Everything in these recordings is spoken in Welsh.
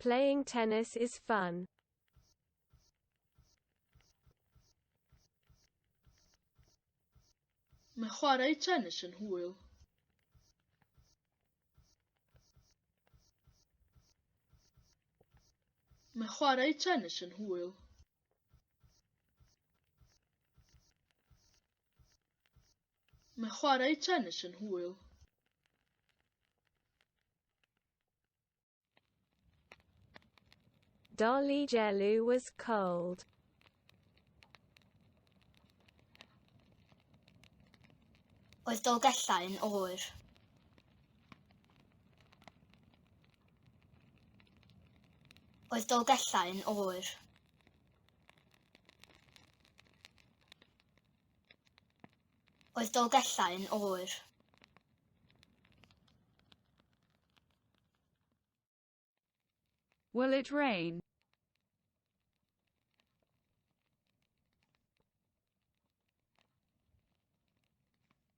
Playing tennis is fun. Mae chwarae tennis yn hwyl. Mae chwarae tennis yn hwyl. Mae chwarae tennis yn hwyl. Dolly Jellu was cold. Oedd Dolgellau yn oer. Oedd Dolgellau yn oer? Oedd Dolgellau yn oer? Will it rain?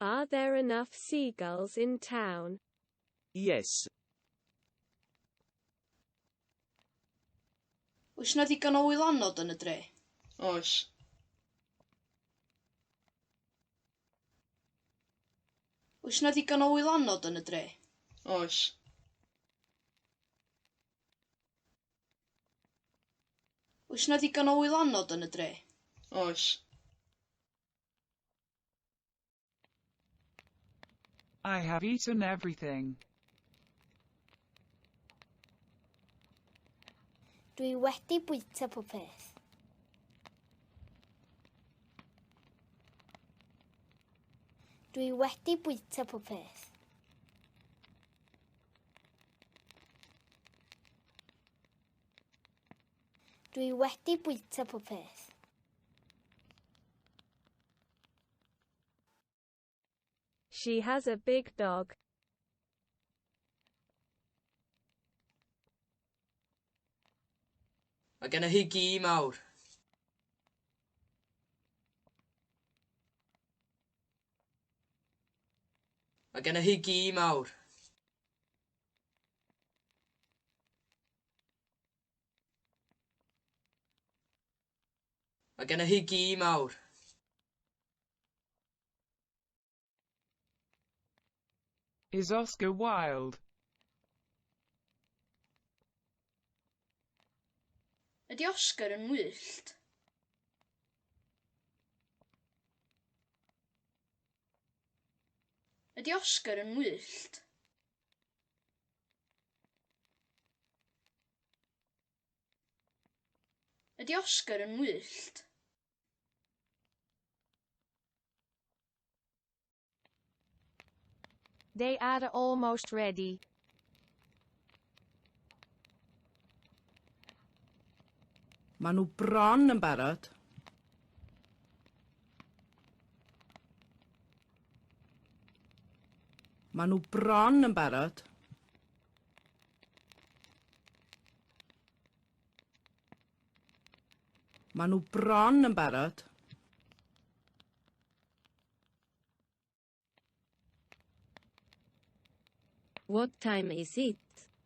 Are there enough seagulls in town? Yes. Oes yna ddigon o wylanod yn y dre? Oes. Oes yna ddigon o wylanod yn y dre? Oes. Oes yna ddigon o wylanod yn y dre? Oes. I have eaten everything. Dwi wedi bwyta pob peth. Dwi wedi bwyta pob peth. Dwi wedi bwyta pob peth. She has a big dog. Mae genna hi gi mawr. Mae genna hi gi mawr. Mae gennych chi gi mawr. Is Oscar Wilde. Ydy Oscar yn wyllt? Ydy Oscar yn wyllt? Ydy Oscar yn wyllt? They are almost ready. Maen nhw bron yn barod. Maen nhw bron yn barod. Maen nhw bron yn barod. What time is it?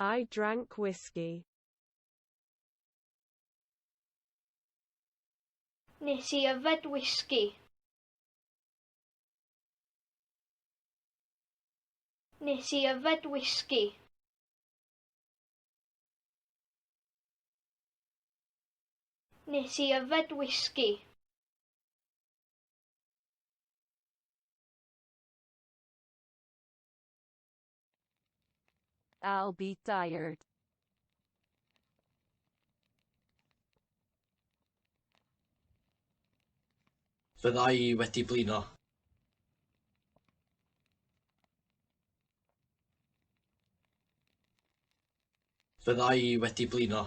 I drank whisky. Nes i yfed whisky. Nes i yfed whisky. Nes i yfed whisky. I'll be tired. Fydda i wedi blino. Fydda i wedi blino.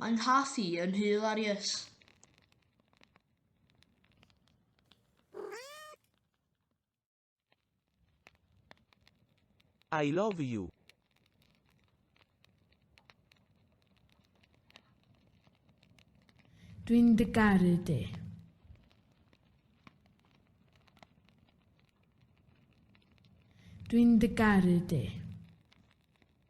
Mae'n nghath i yn hil ar ies. I love you. Dwi'n dy garu di. Dwi'n dy garu di.